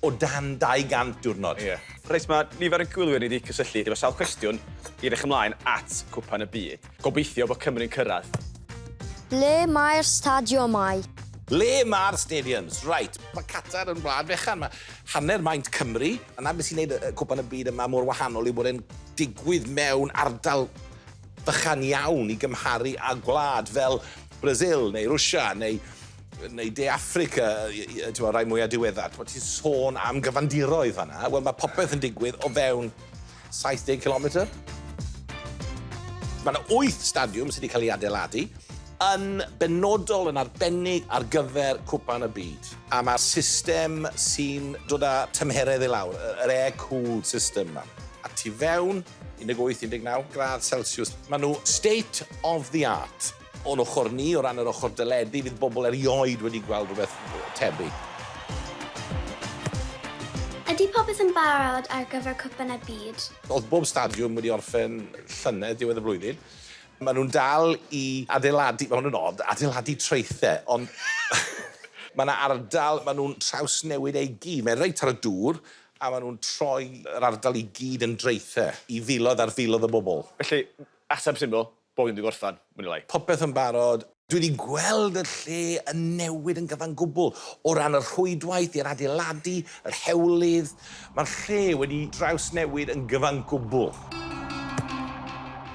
o dan 200 diwrnod. Ie. Reit, mae nifer y gwylwyr ni wedi cysylltu efo sawl cwestiwn i edrych ymlaen at Cwpan y Byd. Gobeithio bod Cymru'n cyrraedd. Ble mae'r stadiwmau? Ble mae'r stadiums? Reit, mae Qatar yn wlad fechan, mae hanner maint Cymru, a 'na beth sy'n gwneud y Cwpan y Byd yma mor wahanol yw bod e'n digwydd mewn ardal bychan iawn i gymharu â gwlad fel Brasil neu Rwsia neu neu De Affrica, y rhai mwyaf diweddar. Ti'n ti sôn am gyfandiroedd fanna. Wel, mae popeth yn digwydd o fewn 70 kilometr. Mae yna 8 stadiwm sydd wedi cael ei adeiladu yn benodol yn arbennig ar gyfer cwpan y byd. A mae'r system sy'n dod â tymheredd i lawr, yr air-cooled system yma. A tu fewn, 18-19 gradd Celsius. Maen nhw state of the art. O'n ochr ni, o ran yr ochr deledu, fydd bobl erioed wedi gweld rhywbeth tebyg. Ydy popeth yn barod ar gyfer Cwpan y Byd? Oedd bob stadiwm wedi orffen llynedd diwedd y flwyddyn. Maen nhw'n dal i adeiladu, mae hwn yn od, adeiladu traethau, ond mae yna ardal maen nhw'n trawsnewid e i gyd. Mae'n reit ar y dŵr, a maen nhw'n troi yr ardal i gyd yn draethau i filoedd ar filoedd o bobl. Felly, ateb syml, Bo hyn di gorffan, mwy ne lai. Popeth yn barod. Dwi 'di gweld y lle yn newid yn gyfan gwbl, o ran y rhwydwaith i'r adeiladu, yr hewlydd, mae'r lle wedi drawsnewid yn gyfan gwbl.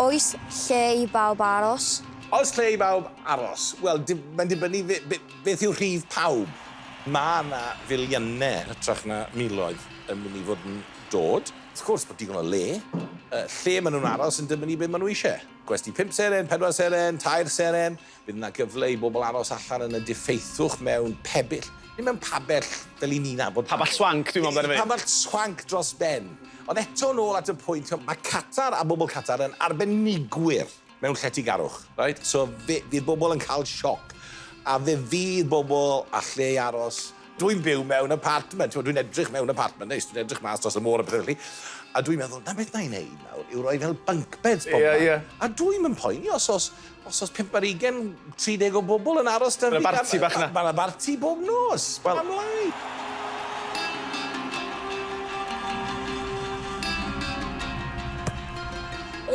Oes lle i bawb aros? Oes lle i bawb aros? Wel, mae'n dibynnu beth yw rhif pawb. Mae 'na filiynau yn hytrach na miloedd yn mynd i fod yn dod. Wrth gwrs bod digon o le. Y lle maen nhw'n aros yn dibynnu be maen nhw eisiau. Gwesty pump seren, pedwar seren, tair seren. Bydd yna gyfle i bobl aros allan yn y diffeithwch mewn pebyll, neu mewn pabell fel y'n ni'n nabod. Pabell swanc dwi'n meddwl amdano fe. Pabell swanc dros ben. Ond eto nôl at y pwynt, mae Qatar a bobl Qatar yn arbenigwyr. mewn lletygarwch, reit? So fe fydd bobl yn cael sioc, a fe fydd bobl â lle i aros. Dwi'n byw mewn apartment, t'mod, dwi'n edrych mewn apartment neis, dwi'n edrych mas dros y môr a pethe felly, a dwi'n meddwl, 'na beth 'na i neud nawr yw roi fel bunk beds bobman. Ie, ie. A dwi'm yn poeni os o's os o's pump ar ugen 30 o bobl yn aros dan ddigar. Mae 'na barti bach 'na. Mae 'na barti bob nos. Wel. Pam lai?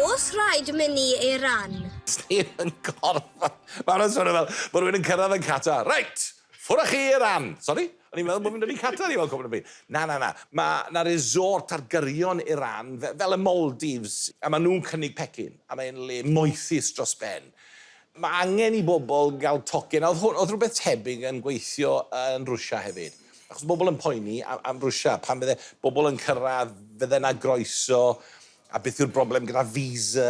Os rhaid mynd i Iran. Sdim yn gorfod. Mae hwnna'n swnio fel bod rhywun yn cyrraedd yn Qatar. Reit! Ffwr â chi i Iran! Sori? O'n i'n meddwl bod fi'n mynd i Qatar i weld cwpl o beth. Na, na, na. Mae 'na resort ar gyrion Iran, fel y Maldives, a maen nhw'n cynnig pecyn, a mae'n le moethus dros ben. Mae angen i bobl gael tocyn, a oedd hwn, oedd rhywbeth tebyg yn gweithio yn Rwsia hefyd. Achos bobl yn poeni am, am Rwsia, pan fydde bobl yn cyrraedd, fydde yna groeso, a beth yw'r broblem gyda visa.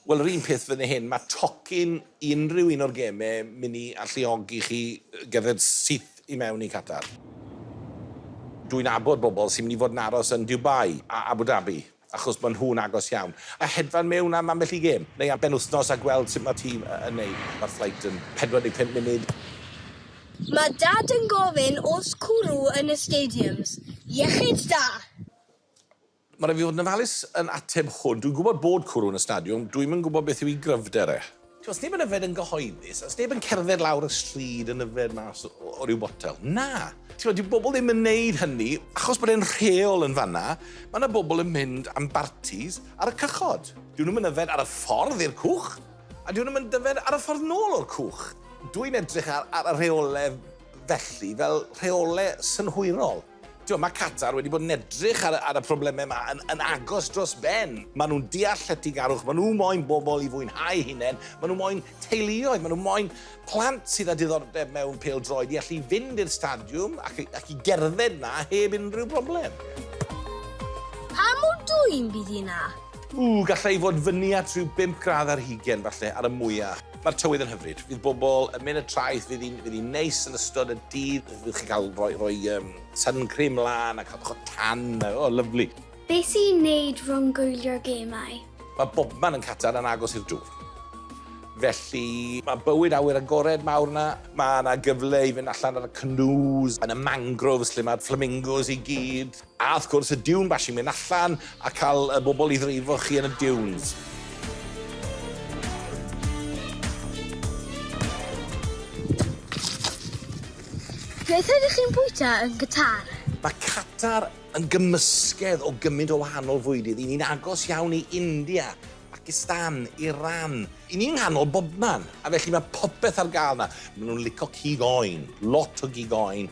Wel, yr un peth fan hyn, mae tocyn i unrhyw un o'r gemau mynd i alluogi chi gerdded syth i mewn i Qatar. Dwi'n abod bobl sy'n mynd i fod yn aros yn Dubai a Abu Dhabi. achos maen nhw'n agos iawn, a hedfan mewn am ambell i gêm, neu am benwythnos a gweld sut mae'r tîm yn neud. Mae'r fflait yn 45 munud. Mae Dad yn gofyn oes cwrw yn y stadiums. Iechyd da! Mae rhaid fi fod yn ofalus yn ateb hwn. Dwi'n gwybod bod cwrw yn y stadiwm, dwi'm yn gwybod beth yw i gryfder e. Does neb yn yfed yn gyhoeddus, does neb yn cerdded lawr y stryd yn yfed mas o ryw botel. Na! Ti'n dyw bobl ddim yn neud hynny, achos bod e'n rheol yn fanna, mae yna bobl yn mynd am bartis ar y cychod. Dyw nhw'm yn yfed ar y ffordd i'r cwch, a dyw nhw'm yn dyfed ar y ffordd nôl o'r cwch. Dwi'n edrych ar y rheolau felly fel rheolau synhwyrol. T'wod, ma' Qatar wedi bod yn edrych ar y ar y probleme 'ma yn yn agos dros ben. Ma' nw'n deall lletygarwch, ma' nw moyn bobol i fwynhau'u hunen, ma' nw moyn teuluoedd, ma' nw moyn plant sydd â diddordeb mewn pêl-droed i allu fynd i'r stadiwm ac i ac i gerdded 'na heb unrhyw broblem. Pa mor dwym bydd hi 'na? Ww, gallai fod fyny at rhyw bump gradd ar hugen, falle, ar y mwya. Mae'r tywydd yn hyfryd. Fydd bobl yn mynd y traeth, fydd hi'n fydd hi'n neis yn ystod y dydd. Fydd chi'n cael rhoi, rhoi um, sun cream lan a cael bach o tan. O, oh, lyflu. Be sy'n neud rhwng gwylio'r gemau? Mae bobman yn Qatar yn agos i'r dŵr. Felly, mae bywyd awyr agored mawr yna. Mae yna gyfle i fynd allan ar y canoes, yn y mangroves lle mae'r flamingos i gyd. A wrth gwrs y dune bashing, mynd allan a cael y bobl i ddreifo chi yn y dunes. Beth ydych chi'n bwyta yn Qatar? Mae Qatar yn gymysgedd o gymaint o wahanol fwydydd. Y'n ni'n agos iawn i India, Pakistan, Iran. Y'n ni'n nghanol bobman, a felly mae popeth ar gael 'na. Maen nhw'n lico cig oen, lot o gig oen,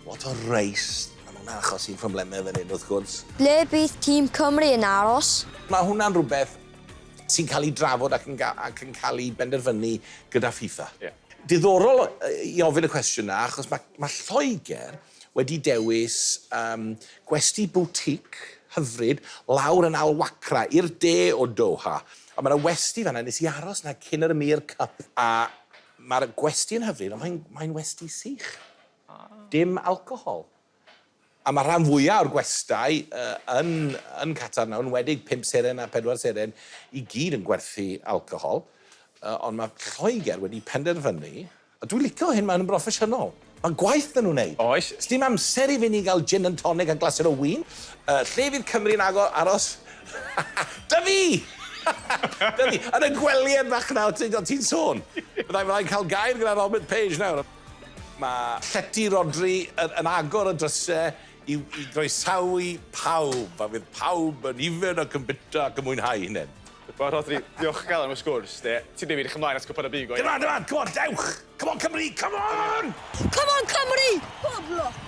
lot o reis. A mae hwnna'n achosi problemau fan hyn, wrth gwrs. Ble bydd tîm Cymru yn aros? Mae hwnna'n rhywbeth sy'n cael ei drafod ac yn, ac yn cael ei benderfynu gyda FIFA. Yeah. Diddorol i ofyn y cwestiwn yna, achos mae, mae Lloegr wedi dewis um, gwesti boutique hyfryd lawr yn Al Wakra, i'r de o Doha. A mae yna westi fanna, nes i aros yna cyn yr Emir Cup. A mae'r gwesti yn hyfryd, ond mae'n, mae'n westi sych. Dim alcohol. A mae rhan fwyaf o'r gwestai yn Qatar nawr, yn enwedig pump seren a phedwar seren, i gyd yn gwerthu alcohol. Ond mae Lloegr wedi penderfynu, a dwi'n licio hyn, maen nhw'n broffesiynol. Mae gwaith 'da nhw'n wneud. Oes, sdim amser i fyny i gael gin and tonic a glasur o win. Lle fydd Cymru yn agor, aros? Dyfi! Dyfi! Yn y gwely yn Machynnaw, ti'n sôn. Fydda i'n cael gair gyda Robert Page nawr. Mae llety Rhodri yn yn agor y dryse i i groesawu pawb, a fydd pawb yn yfed ac yn bita ac yn mwynhau hunain. Wel Rhodri, diolchgar am y sgwrs de. Ti'n neud fi edrych ymlaen at Cwpan y Byd go iawn. Come on, come on, come on, dewch! Come on Cymru, come on! Come on Cymru! Pob lwc!